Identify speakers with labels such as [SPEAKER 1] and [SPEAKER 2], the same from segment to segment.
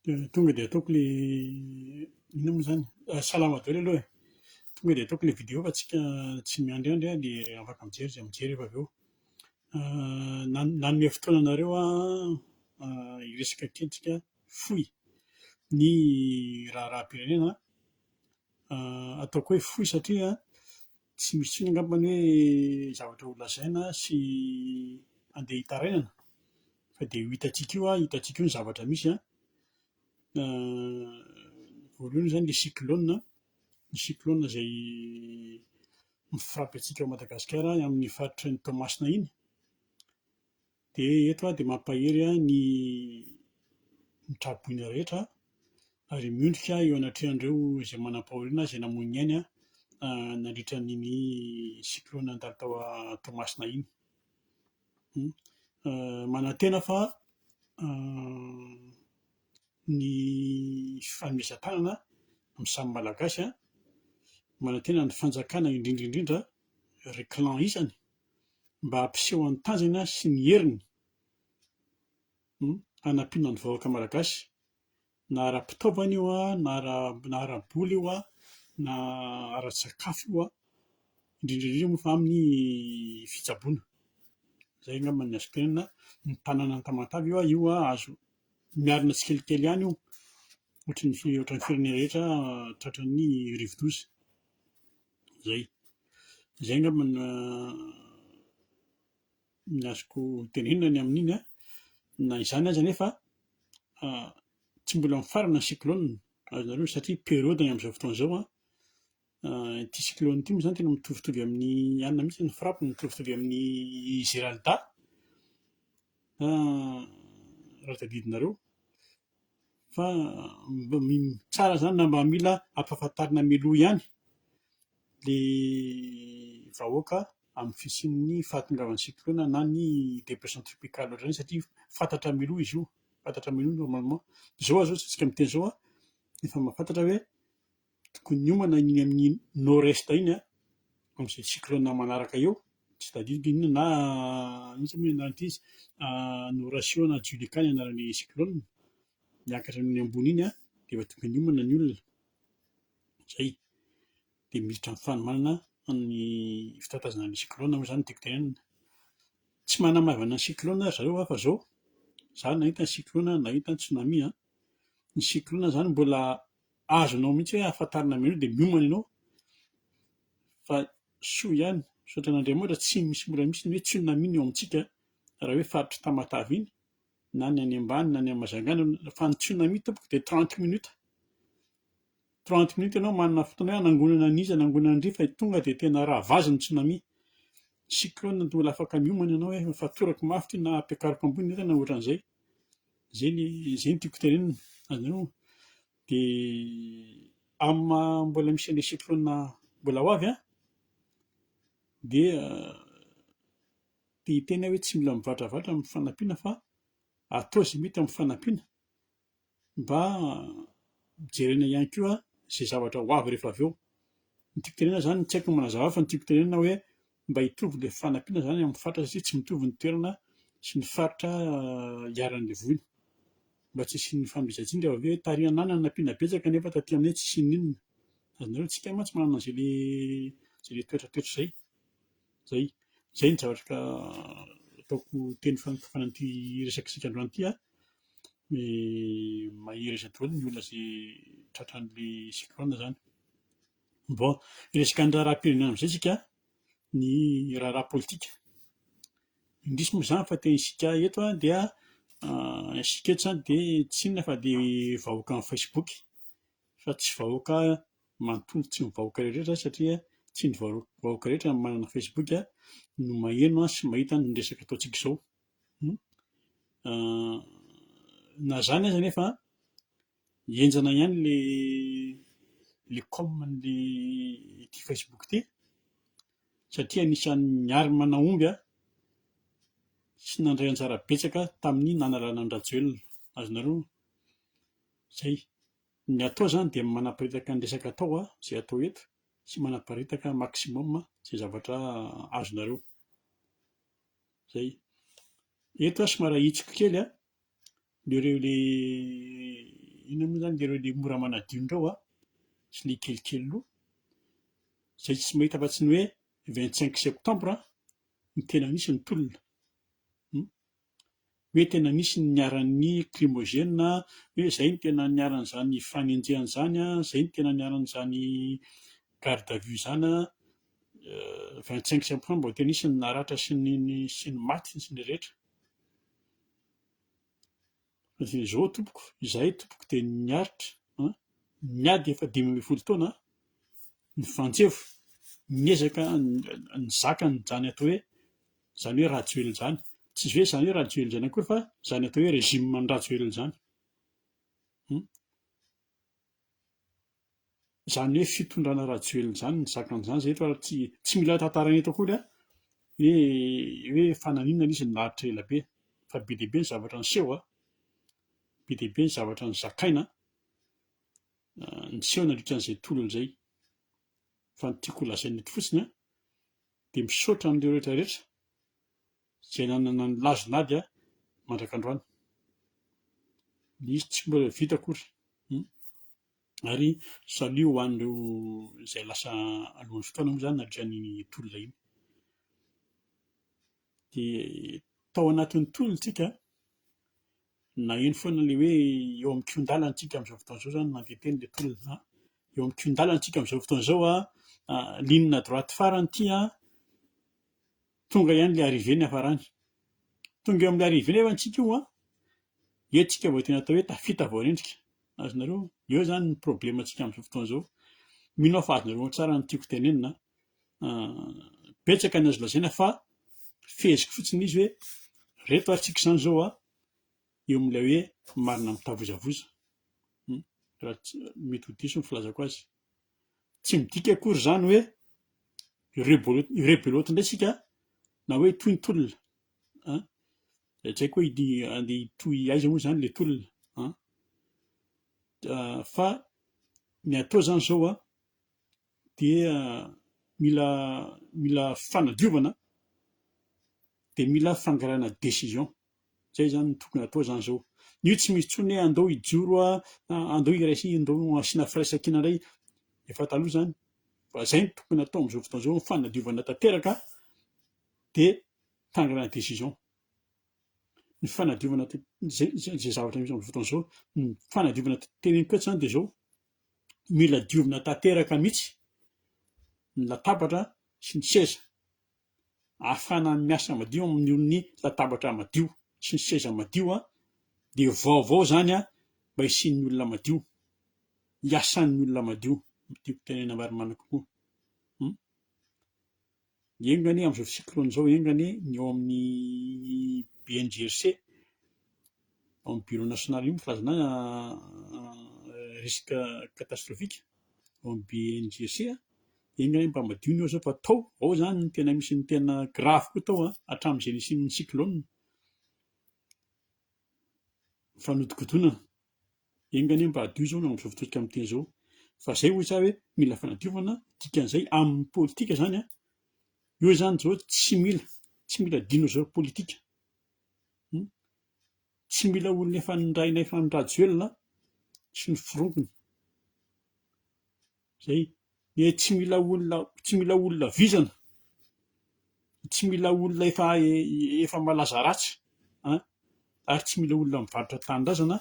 [SPEAKER 1] dia tonga dia ataoko ilay inona moa izany? salama daholo aloha e, tonga dia ataoko ilay video fa tsika tsy miandriandry aho dia afaka mijery izay mijery efa avy eo, nanome fotoana anareo aho hiresaka kely tsika fohy ny raharaham-pirenena, ataoko hoe fohy satria Tsy misy intsony angamba ny hoe zavatra ho lazaina sy handeha hitarainana fa dia io hitantsika io, hitantsika io ny zavatra misy an, voalohany izany ilay cyclone an, ny cyclone izay mi-frappe antsika ao Madagasikara amin'ny faritry ny Toamasina iny, Dia eto aho dia mampahery ahy ny mitraboina rehetra, ary miondrika aho eo anatrehan'ireo izay manam-pahoriana, izay namoy ny ainy nandritra an'iny cyclone nandalo tao Toamasina iny. Manantena fa ny fifanomezan-tanana amin'ny samy Malagasy, manantena ny fanjakana indrindra indrindra, ry clan isany, mba hampiseho ny tanjany sy ny heriny hanampiana ny vahoaka malagasy na ara-pitaovana io na ara-bola io na ara-tsakafo io indrindra indrindra moa fa aminy fitsaboana. Izay angamba no azoko tenenina, ny tanàna Tamatave io io azo miarina tsikelikely ihany io ohatran'ny firenena rehetra tratran'ny rivodoza. Zay. Zay angamba ny ny azoko tenenina ny amin'iny an, na izany aza anefa tsy mbola mifarana ny cyclone azonareo satria periode ny amin'izao fotoana izao an, ity cyclone ity moa zany tena mitovitovy amin'ny anona mihintsy ny frappe ny mitovitovy amin'ny geralda raha tadidinareo. fa mba tsara zany na mba mila ampahafantarina mialoha ihany le vahoaka amin'ny fisian'ny fahatongavan'ny cyclone na ny depression tropicale ohatr'izany satria fantatra mialoha izy io, fantatra mialoha normalement, zao aza ohatsy isika miteny zao an, efa mahafantatra hoe Tokony hiomana iny amin'ny nord est iny amin'izay cyclone manaraka eo, tsy tadidiko inona na inona moa ny anaran'ity izy, Horacio na Julica ny anaran'ny cyclone, miakatra eny ambony iny dia efa tokony hiomana ny olona, izay dia miditra amin'ny fanomanana ny fitatazana ny cyclone moa izany no tiako tenenana. Tsy manamaivana ny cyclone ry zareo aho fa izao, izaho nahita ny cyclone, nahita ny tsunami an, ny cyclone izany mbola azonao mihitsy hoe ahafantarana anao dia miomana ianao fa soa ihany, misaotra an'Andriamanitra tsy misy mbola misy ny hoe tsunami ny ao amintsika raha hoe faritry Tamatave iny na ny any ambany na ny any Mazangana fa ny tsunami tompoko dia trente minute, trente minute ianao manana fotoana hoe hanangonana an'iza hanangonana an'ndry fa tonga dia tena raha vazy ny tsunami, cyclone dia mbola afaka miomana ianao hoe fatorako mafy ity na ampiakariko ambony entana ohatran'izay. Zay ny zay no tiako tenenina anareo de amin'ny maha mbola misy an'le cyclone mbola ho avy an! dia te hiteny aho hoe tsy mila mivadravadra amin'ny fanampiana fa atao izay mety amin'ny fanampiana mba jerena ihany koa izay zavatra ho avy rehefa avy eo, ny tiako tenenina zany, tsy haiko ny manazava fa ny tiako tenenina hoe mba hitovy ilay fanampiana izany amin'ny faritra satria tsy mitovy ny toerana sy ny faritra iharan'ilay voina mba tsy hisian'ny fahamezan-tsiny dia avy eo tarihana any hanampiana betsaka nefa taty aminay tsy hisian'ny inona azonareo antsika mantsy manana an'izay le izay le toetra toetra izay izay izay ny zavatra ka ataoko teny fanokafana an'ity resaka isika androany ity a mahery izay daholo ny olona izay tratran'ilay cyclone izany Bon, resaka ny raharaham-pirenena amin'izay isika, ny raharaha politika. Indrisy moa izany fa tena isika eto dia isika eto izany dia tsy inona fa dia vahoakan'ny Facebook fa tsy vahoaka manontolo, tsy ny vahoaka rehetra satria tsy ny vahoaka rehetra no manana Facebook no maheno sy mahita ny resaka ataontsika izao. Na izany aza anefa Henjana ihany le le com an'le ity facebook ity satria anisan'ny arme nahomby aho sy nandray anjara betsaka aho tamin'ny nanalana an-dRajoelina azonareo zay ny atao zany dia manaparitaka ny resaka atao aho zay atao eto sy manaparitaka maximum zay zavatra azonareo zay eto aho somary ahitsiko kely a Dia ireo ilay inona moa izany dia ireo ilay mora manadio indreo an! sy ilay kelikely loha, izay tsy mahita afa-tsy ny hoe vingt cinq septembre no tena nisy ny tolona hum! hoe tena nisy ny niharan'ny krimôgena, hoe izay no tena niharan'izany fanenjehana izany an, izay no tena niharan'izany garde à vue izany an, vingt cinq septembre vao tena nisy ny naratra sy ny sy ny maty sy ny rehetra. Dia izao tompoko, izahay tompoko dia niaritra niady efa dimy ambin'ny folo taona ny Frantseva, niezaka nizaka an'izany atao hoe izany hoe Rajoelina izany, tsy hoe izany hoe Rajoelina izany akory fa izany atao hoe régime an'i Rajoelina izany. izany hoe fitondrana Rajoelina izany ny zakany izany izay eto ary tsy tsy mila tantaraina eto akory an! hoe hoe fa naninona ilay izy naratra ela be fa be dia be ny zavatra niseho an! be dia be ny zavatra nozakaina an! niseho nandritra an'izay tolona izay fa ny tiako holazaina eto fotsiny an! dia misaotra an'ireo rehetra rehetra izay nanana ny lazony ady an! mandrak'androany ny izy tsy mbola vita akory! Ary salut ho an'ireo izay lasa alohan'ny fotoana moa izany nandritra ny tolona iny. Dia tao anatin'ny tolontsika naheno foana ilay hoe eo amin'ny kion-dalana tsika amin'izao fotoana izao izany mandeha teny ilay tolona an! eo amin'ny kion-dalana tsika amin'izao fotoana izao an! ligne droite farany ity an! Tonga ihany ilay arrivée niafarany. Tonga eo amin'ilay arrivée nefa antsika io an! Eo tsika vao tena atao hoe tafita vao rendrika. Azonareo? Eo izany ny problème antsika amin'izao fotoana izao. Mino aho fa azonareo ao tsara ny tiako tenenina an! Betsaka ny azo lazaina fa feheziko fotsiny izy hoe reto ary tsika izany izao an! Eo amin'ilay hoe marina mitavozavoza. Raha tsy mety ho diso ny filazako azy. Tsy midika akory izany hoe rebelote indray isika na hoe hitohy ny tolona an! Dia tsy haiko hoe handeha hitohy aiza moa izany ilay tolona an! Fa ny atao izany izao an, dia mila mila fanadiovana dia mila fangarahana décision. Zay zany no tokony hatao zany zao. Io tsy misy tsony hoe andao hijoro ah, andao hiraisana, andao hasiana firaisankina ndray, efa taloha zany. Fa zay no tokony hatao amzao fotoana zao, fanadiovana tanteraka de hitangana ny décision. Ny fanadiovana t- zay zay zay zavatra misy amzao fotoana zao, ny fanadiovana t- tena mitoetra zany de zao, mila diovina tanteraka mitsy ny latabatra sy ny seza. ahafahana miasa madio amin'ny latabatra madio sy ny seza madio dia vaovao izany mba hisian'ny olona madio, hiasan'ny olona madio, ny tiako tenenina marimarina kokoa. Enga anie amin'izao cyclone izao enga anie ny ao amin'ny BNGRC. Ao amin'ny Bureau national io ny filazana risque catastrophique ao amin'ny BNGC dia iny ilay mpamadio ny eo izao fa tao, ao izany no tena misy ny tena grave koa tao an, hatramin'izay nisian'ny cyclone, fanodikodinana, enga anie mba hadio izao no amin'izao fotoantsika amin'ny teny izao, fa izay hoy za hoe mila fanadiovana, dikan'izay amin'ny politika izany an, eo izany izao tsy mila, tsy mila adino izao politika. Tsy mila olona efa nirahinay fa ny rajoelina sy ny forongony zay dia tsy mila olona tsy mila olona vizana tsy mila olona efa efa malaza ratsy an! ary tsy mila olona mivarotra tanindrazana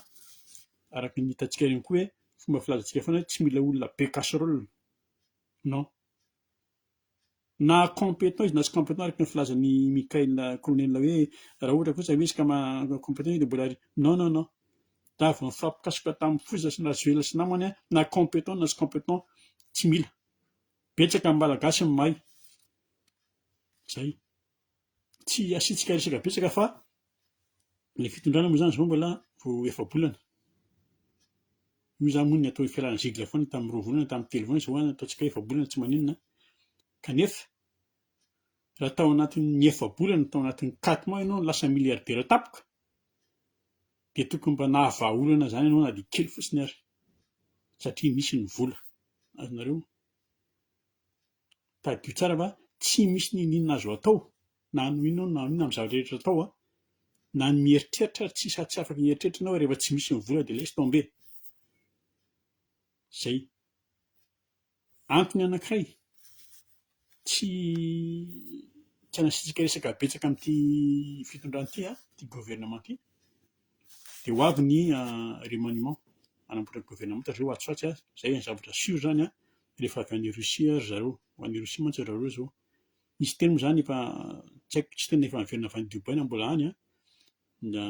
[SPEAKER 1] araka ny hitantsika ihany koa hoe fomba filazantsika foana hoe tsy mila olona be casserole non. Na compétent izy na tsy compétent araka ny filazan'i Michael Colonel hoe raha ohatra kosa ve izy ka maha compétent izy dia mbola ry non non non raha vao nifampikasoka tamin'ny foza sy ny rajoelina sy namany na compétent na tsy compétent tsy mila betsaka ny malagasy no mahay zay tsy asiantsika resaka betsaka fa ny fitondrana moa zany zao mbola vao efa-bolana. Io zany moa ny atao hoe fialana zigla foana tamin'ny roa volana, tamin'ny telo volana, zao zany ataontsika efa-bolana tsy maninona, kanefa raha tao anatin'ny efa-bolana, tao anatin'ny quatre mois ianao no lasa milliardaire tampoka, dia tokony mba nahavaha olana zany ianao na dia kely fotsiny ary, satria misy ny vola, azonareo? tadidio tsara fa tsy misy ninoninona azo atao na hanao inona na inona amin'ny zavatra rehetra atao an, na ny mieritreritra ary tsisy tsy afaka hieritreritra enao rehefa tsy misy ny vola dia laisse tomber. Zay. Antony anankiray tsy tsy hanasitrika resaka betsaka amin'ity fitondrana ity an, ity gouvernement ity. Dia ho avy ny remaniement hanamboatra ny governemanta zareo atsy ho atsy, izay ny zavatra sur izany rehefa avy any Russie ry zareo, ho any Russie mantsy ry zareo izao, misy teny moa izany efa tsy haiko tsy tena efa niverina avy any Dubai na mbola any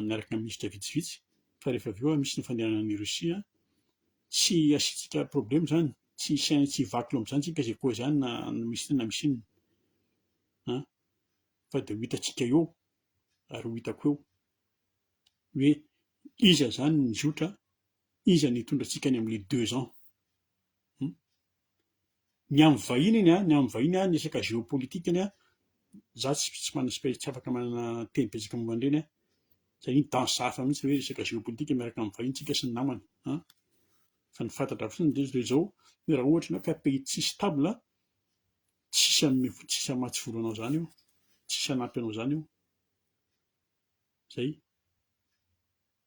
[SPEAKER 1] niaraka ny minisitra vitsivitsy fa rehefa avy eo misy ny fandehanana any Russie, tsy asiantsika problème izany, tsy hisy any tsy hivakilo amin'izany isika izay koa izany na misy inona na misy inona an! fa dia ho hitantsika eo ary ho hitako eo. hoe iza zany ny nizotra, iza no hitondra antsika any amin'ilay deux ans. Hum. Ny amin'ny vahiny anie an, ny amin'ny vahiny an, ny resaka géopolitique anie an, za tsy tsy manana spe- tsy afaka manana teny betsaka momba an'ireny an, satria ny temps hafa mihintsy ilay hoe resaka géopolitique miaraka amin'ny vahiny tsika sy ny namana an, fa ny fantatra fotsiny dia toy izao, hoe raha ohatra ianao ka pays tsy stable an, tsisy hanome fo, tsisy hamatsy vola anao zany eo, tsisy hanampy anao zany eo. zay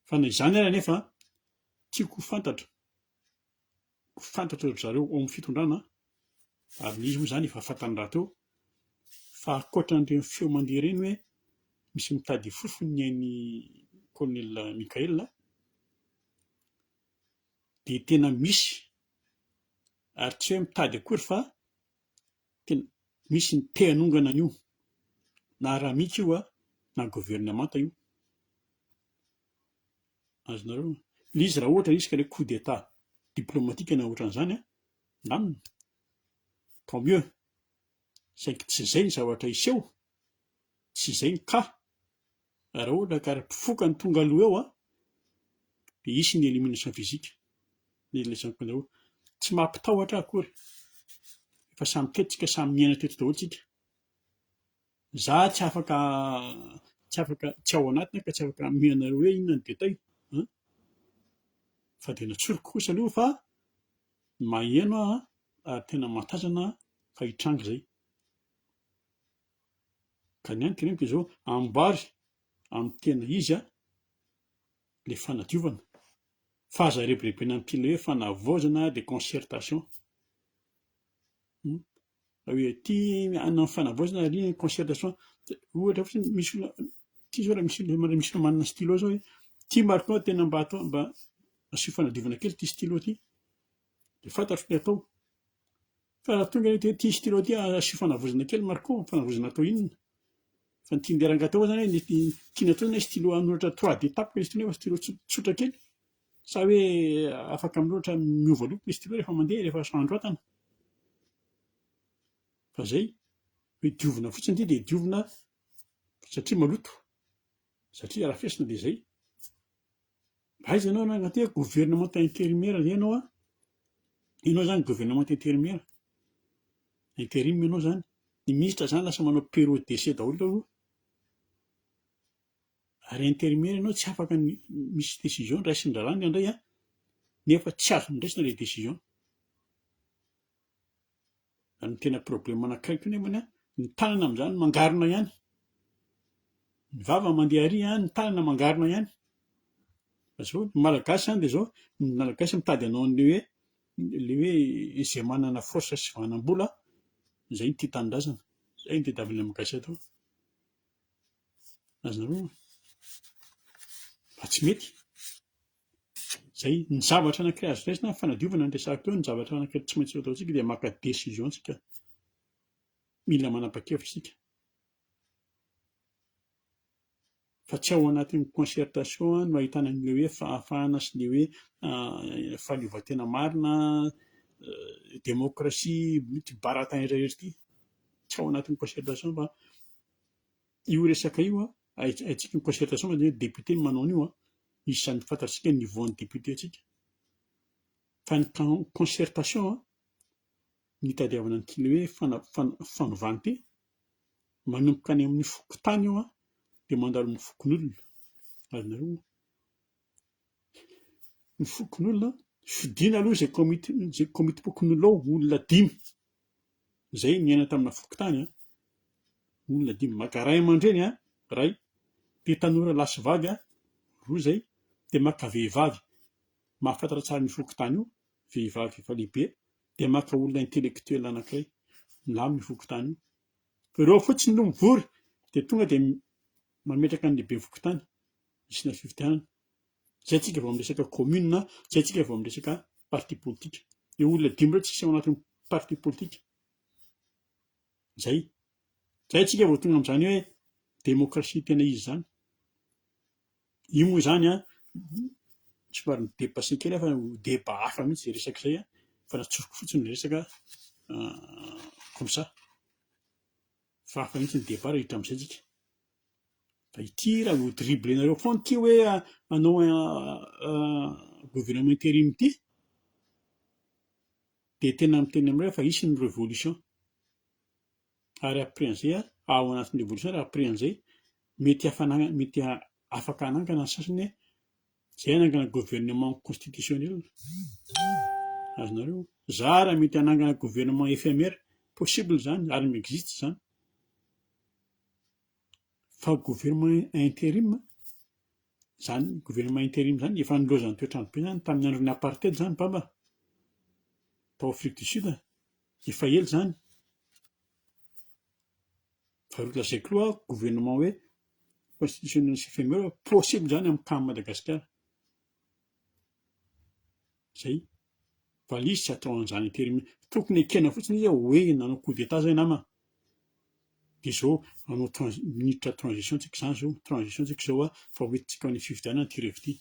[SPEAKER 1] fa na izany ary anefa tiako ho fantatra ho fantatry ry zareo ao amin'ny fitondrana ary le izy moa zany efa fantany rahateo fa ankoatra an'ireny feo mandeha ireny hoe misy mitady fofony ny ain'ny kolonela Mickaël dia tena misy ary tsy hoe mitady akory fa Tena misy ny te hanongana an'io na ramika io a na governemanta io. Azonareo? Ilay izy raha ohatra izy coup d'etat diplomatique na ohatran'izany a, ndamina, tant mieux, saingy tsy izay ny zavatra hiseho Tsy izay ny cas, raha ohatra ka mpifoka no tonga aloha eo an, dia hisy ny élimination physique, ny lesy mpandrahona. Tsy mampitahotra ahy akory, efa samy teto tsika, samy miaina teto daholo tsika. Za tsy afaka tsy afaka tsy ao anatiny aho ka tsy afaka hanome anareo hoe inona ny détail an, fa dia ny antsoriko kosa aloha fa maheno aho an, ary tena mahatazana aho fa hitranga izay. Ka ny antoka anefa izao ambary amin'ny tena izy le fanadiovana fa aza rebirebena amin'ity ilay hoe fanavaozana dia concertation raha hoe ty hanao fanavaozana ary iny concertation dia ohatra fotsiny misy olona ty zao raha misy olona misy olona manana stylo zao hoe ty marc nao tena mba atao mba asio fanadiovana kely ty stylo ty de fantatro ny atao Fa raha tonga eto ity stylo ity asio fanavozana kely Marco, fanavozana atao inona? Fa ny tian'ilay rangahy teo zany hoe tiany atao hoe stylo hanoratra trois de tape izy ity nefa stylo tsotra kely sa hoe afaka minoratra miova loko le stylo rehefa mandeha rehefa androatana? fa zay, hoe diovina fotsiny ity dia diovina satria maloto. Satria arafesina dia izay. Mba aiza ianao rangahy ty a, gouvernemanta intérimaire ve ianao a? Ianao zany gouvernemanta intérimaire? Interim ianao zany? Ny ministra zany lasa manao période d'essai daholo eo aloha. Ary intérimaire ianao tsy afaka ny misy décision raisin'ny raharaha ny andray a, nefa tsy azony raisina le décision. Fa ny tena problème anankiray koa nefany an, ny tanana amin'izany mangarona ihany, ny vava mandeha ary an, ny tanana mangarona ihany, fa zao ny malagasy zany dia zao, ny malagasy mitady hanao an'ilay hoe ilay hoe izay manana force sy vanam-bola izay no tia tanindrazana, izay no tadiavin'ny malagasy atao, azonareo raha tsy mety. Izay, ny zavatra anankiray azo raisina amin'ny fanadiovana ny resahako teo, ny zavatra anankiray tsy maintsy ataontsika dia maka décision tsika, mila manapa-kevitra isika, fa tsy ao anatin'ny concertation no ahitana an'ilay hoe fahafahana sy ilay hoe fahaleovantena marina, démocratie, ity baratin iray irery ity, tsy ao anatin'ny concertation fa io resaka io an, Haintsika ny concertation mantsy ny député no manao an'io an! Izany fantatsika ny niveau an'ny député antsika. Fa ny concertation an! Ny hitadiavana ny kle hoe fana- fana- fanovante, manomboka any amin'ny fokontany io an! Dia mandalo amin'ny fokonolona, azonareo? ny fokonolona fidiana aloha izay komity izay komitim-pokonolona ao olona dimy izay niaina tamina fokontany an olona dimy maka ray aman-dreny an ray dia tanora lahy sy vavy an roa izay dia maka vehivavy mahafantatra tsara ny fokontany io vehivavy efa lehibe dia maka olona intelektoela anankiray milamin' ny fokontany io ireo fotsiny no mivory dia tonga dia mametraka ny lehiben'ny fokontany Hisy ny fifidianana. Izay tsika vao miresaka commune na izay tsika vao miresaka parti politique. Ireo olona dimy ireo tsy hisy ao anatin'ny parti politique. Izay. Izay tsika vao tonga amin'izany hoe démocratie tena izy izany. Io moa izany an, somary mi-dépasser kely aho fa ho débat hafa mihitsy izay resaka izay an, fa natsoriko fotsiny ny resaka comme ça. Fa hafa mihitsy ny débat raha hiditra amin'izay tsika. Fa ity raha vao dribblenareo foana ity hoe hanao gouvernement interim ity dia tena miteny aminareo fa hisy ny revolution. Ary après an'izay, ao anatin'ny revolution ary après an'izay mety hafanagna- mety afaka hanangana ny sasany hoe izay hanangana gouvernement constitutionnel. Azonareo? Za raha mety hanangana gouvernement éphémère, possible izany ary mi-existe izany. Fa gouvernement interim zany gouvernement interim zany efa nilaozan'ny toetr'andro be zany tamin'ny andron'ny apartheid zany mbamba tao afrique du sud efa ela zany fa ry lazaiko loha gouvernement hoe constitution sy possible zany amin'ny cas an'i madagasikara Zay. Valizy tsy atao an'izany aty mi-, tokony ekena fotsiny izy hoe nanao coup d'etat zay nama, de zao hanao transi- minitra transition tsika zany zao, transition tsika zao a, fa ho entintsika amin'ny fifidianana ity revo ity.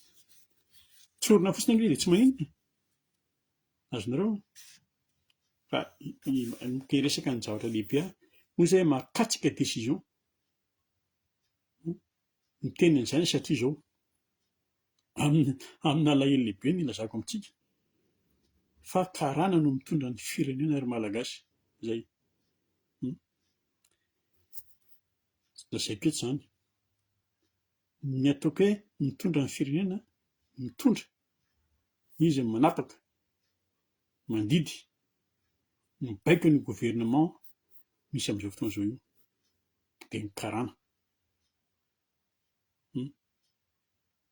[SPEAKER 1] Tsorina fotsiny anie de tsy maninona e, azonareo? Fa miresaka ny zavatra lehibe aho, hoy zay mahakasika decision. Miteny an'izany satria izao, amin'ny amin'ny alahelo lehibe no ilazako amintsika fa karana no mitondra ny firenena ry Malagasy. Izay. Hum. Lazaiko eto izany. Ny ataoko hoe mitondra ny firenena, mitondra, izy no manapaka, mandidy, mibaiko ny gouvernement misy amin'izao fotoana izao io. Dia ny karana.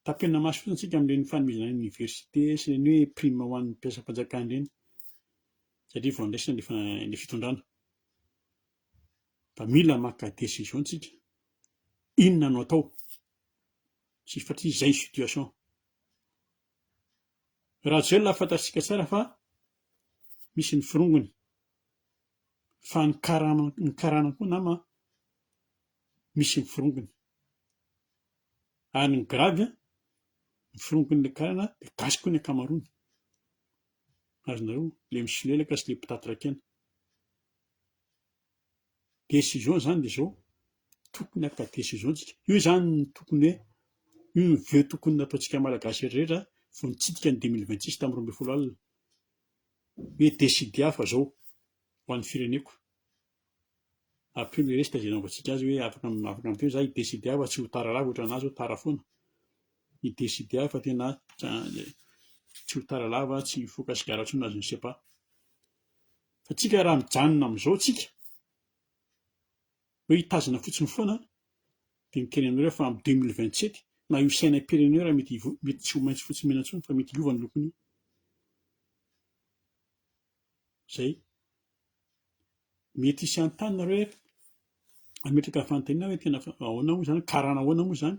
[SPEAKER 1] Tapenina maso fotsiny isika amin'ireny fanomezana université sy ireny hoe prime ho an'ny mpiasam-panjakana ireny satria vao handraisana ilay fitondrana. Fa mila maka décision isika, inona no atao satria izay ny situation. Rajoelina fantatsika tsara fa misy ny forongony. fa ny karama ny karana koa nama a misy ny forongony ary ny gravy a ny forongon'ilay karana dia gasy koa ny ankamaroany azonareo le misolelaka sy le mpitatraka aina décision zany dia zao tokony haka décision tsika io zany no tokony hoe io no voeu tokony nataontsika malagasy rehetra vao nitsidika ny deux mille vingt six tamin'ny roa ambin'ny folo alina Hoe décider aho fa zao ho an'ny fireneko, ampio le resaka zay naovantsika azy hoe afaka afaka ampio za hi-décider aho fa tsy ho tara lava ohatran'ny anah zao tara foana, hi-décider aho fa tena tsy ho tara lava tsy hifoka sigara tsony na je ne sais pas, fa tsika raha mijanona amizao tsika, Hoe hitazona fotsiny foana dia miteny aminareo aho fa am deux mille vingt sept na io sainam pirenena io raha mety hivo mety tsy ho maintso fotsy mena intsony fa mety hiova ny lokony io. Zay. Mety hisy hanontany nareo hoe hametraka fanontaniana hoe tena ahoana moa zany karana ahoana moa zany.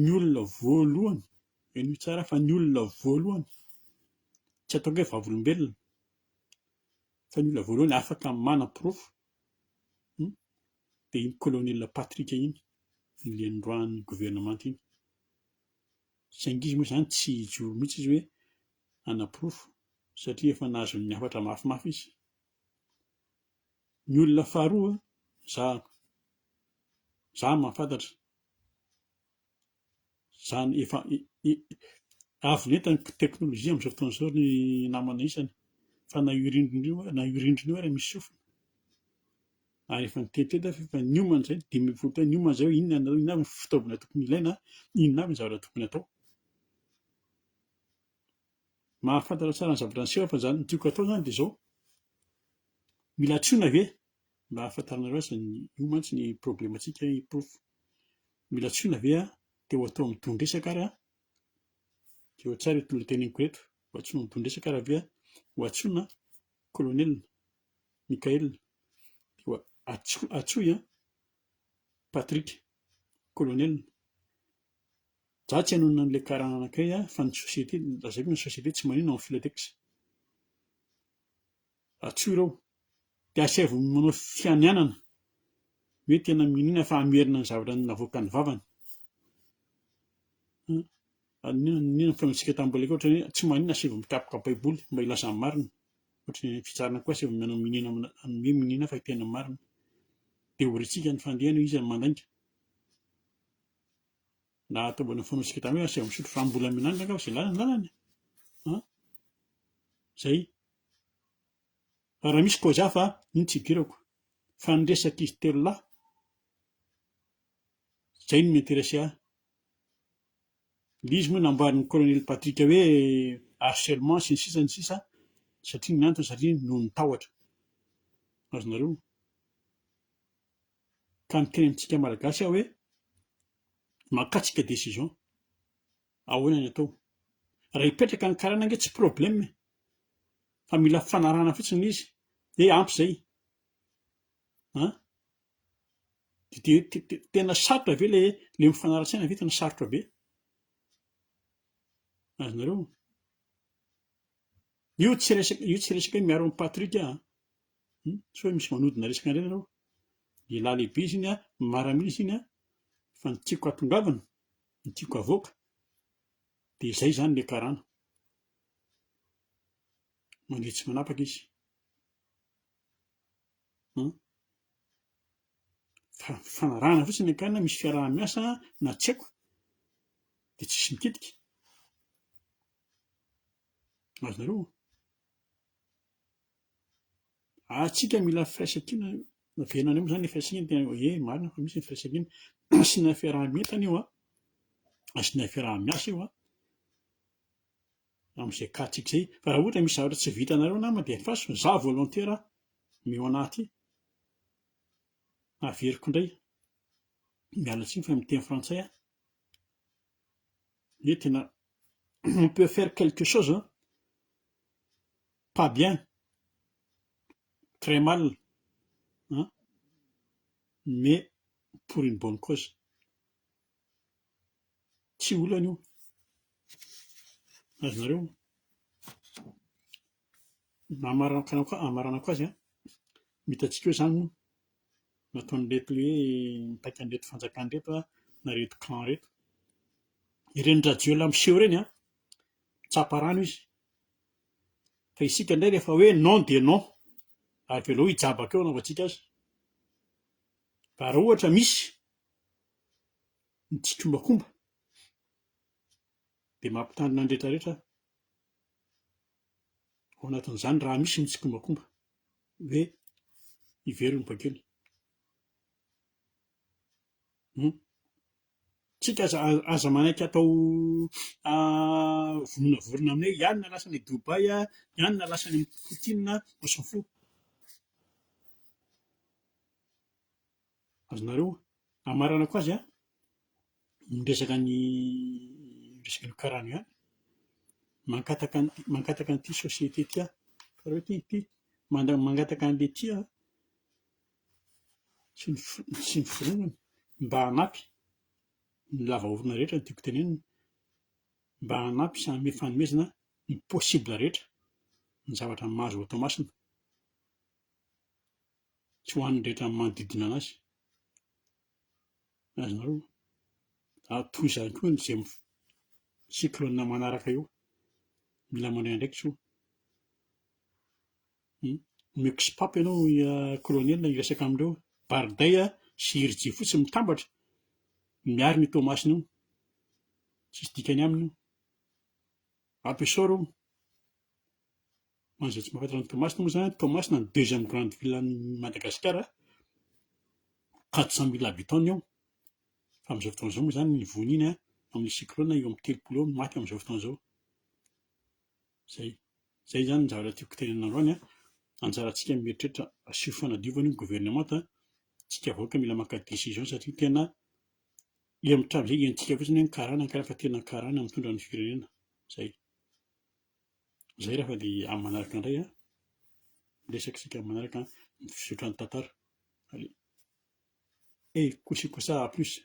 [SPEAKER 1] Ny olona voalohany henoy tsara fa ny olona voalohany tsy ataoko hoe vavolombelona fa ny olona voalohany afaka manam-porofo dia iny kolonela Patrick iny nilendroahan'ny governemanta iny. Saingy izy moa izany tsy hijoro mihitsy izy hoe hanaporofo satria efa nahazon'ny hafatra mafimafy izy. Ny olona faharoa, za, za mahafantatra, izany efa avy nentin'ny teknolojia amin'izao fotoana izao ny namana isany fa na io rindrina io na io rindrina io ary misy sofina ary efa niteny teto aho fa efa niomana izay ny dimy ambin'ny folo taona, niomana izay hoe inona ny inona avy ny fitaovana tokony ilaina, inona avy ny zavatra tokony atao. Mahafantatra tsara ny zavatra niseho aho fa izany ny tiako hatao izany dia izao, mila antsoina ve mba hahafantaranareo azy ny io mantsy ny problemantsika i prof mila tsoina ve ah te ho atao amin'ny dohan-dresaka ary ah jereo tsara eto lohateniko eto ho antsoina amin'ny dohan-dresaka ary ve ho antsoina colonel Michael dia atso- atsoy an Patrick colonel za tsy hanonona an'ilay karana anankiray ah fa ny société lazaiko ny société tsy manino amin'ny filatex Ratsy ireo. Dia asaivo manao fianianana hoe tena minoana fa hamerina ny zavatra navoakan'ny vavany. An, inona ny fihaonantsika tamin'ny mbola kely ohatra hoe tsy maninona asaivo mikapoka baiboly mba hilaza ny marina. Ohatry ny fitsarana koa asaivo manao miniana amin'ny hoe miniana fa tena marina. Dia orintsika ny fandehany hoe iza no mandainga. Na ataovana ny fihaonantsika tamin'ny hoe asaivo misotro rano mbola mianandra angaha fa izay lalana ny lalana e. An, izay. Raha misy koa za fa iny tsy idirako fa ny resak'izy telo lahy zay no mi-interesser ahy. Ilay izy moa nambaran'i Colonel Patrick hoe harcèlement sy ny sisa ny sisa satria ny antony satria noho ny tahotra. Azonareo? Ka miteny amintsika malagasy aho hoe makatsika decision. Ahoana ny atao? Raha hipetraka ny karana ange tsy problème e! Fa mila fanarahana fotsiny ilay izy dia ampy izay. An? Dia tena sarotra ve ilay ilay mifanara-tsaina ve tena sarotra be? Azonareo? Io tsy resaka io tsy resaka hoe miaro an'i Patrick an! Hum? Tsy hoe misy manodina resaka indray nareo. Lehilahy lehibe izy iny an, maramila izy iny an, fa ny tiako hatongavana ny tiako havoaka dia izay izany le karana. Mandria tsy manapaka izy an! fa fanarahana fotsiny ny ankarana misy fiaraha-miasa na tsy haiko dia tsisy mitetika azonareo? ary tsika mila firaisankina naverina indray moa zany le firaisankina tena hoe eh marina fa misy ny firaisankina asiana fiaraha-mientana io an asiana fiaraha-miasa io an am'izay cas tsika zay fa raha ohatra misy zavatra tsy vitanareo namana dia faso fa za volontaire aho mi ho anaty haveriko indray miala tsiny fa miteny frantsay aho hoe tena on peut faire quelque chose an Pas bien. Très mal an! Mais pour une bonne cause. Tsy olana io. Azonareo? Hamaranako azy an! Ny hitantsika eo izany moa nataon'ireto hoe mipaika an'ireto fanjakana ireto an, na ireto camp ireto. Ireny Rajoelina miseho ireny an, mitsapa rano izy. Fa isika indray rehefa hoe non dia non, avelao hijabaka eo anaovantsika azy. Fa raha ohatra misy ny tsikombakomba dia mampitandrina ny rehetrarehetra aho, ao anatin'izany raha misy ny tsikombakomba hoe hiverina ny bakeo ny. Tsika aza aza manaiky atao vononavorona amin'ny hoe iany na lasa any Dubai a, iany na lasa any amin'i Poutine a, on s'en fout. Azonareo amaranako azy an, ny resaka ny resaka an'io karana io ihany, mankataka ny mankataka an'ity société ity aho, hitanareo ity ity mangataka an'ilay ity aho an. sy ny sy ny fironany mba hanampy ny lava orona rehetra no tiako tenenina, mba hanampy sy hanome fanomezana ny possible rehetra ny zavatra mahazo ao Toamasina sy ho an'ny rehetra manodidina anazy, ary nareo ary toy izany koa ny zay cyclone manaraka eo mila mandray andraikitra io. Miox pop ianao kolonely hiresaka amin'ireo Bardey sy Irijia fotsiny mitambatra miaro an'io Toamasina io. Tsisy dikany aminy io. Rapessort io. Ho an'izay tsy mahafantatra an'i Toamasina moa izany, Toamasina no deuxième grande ville an'i Madagasikara, quatre cent mille habitants eo, fa amin'izao fotoana izao moa izany ny vohiny iny amin'ny cyclone eo amin'ny telopolo eo no maty amin'izao fotoana izao. Izay izay izany ny zavatra tiako tenenina androany an! Anjarantsika mieritreritra asio fanadiovana io gouvernemanta an! Tsika vahoaka mila maka decision satria tena ery mitranga izay henontsika fotsiny hoe ny karana ny karana fa tena ny karana mitondra ny firenena! Izay! Izay raha fa dia amin'ny manaraka indray an! Miresaka isika amin'ny manaraka an! Ny fizotran'ny tantara! Allez! Hey! Kosy kosa à plus!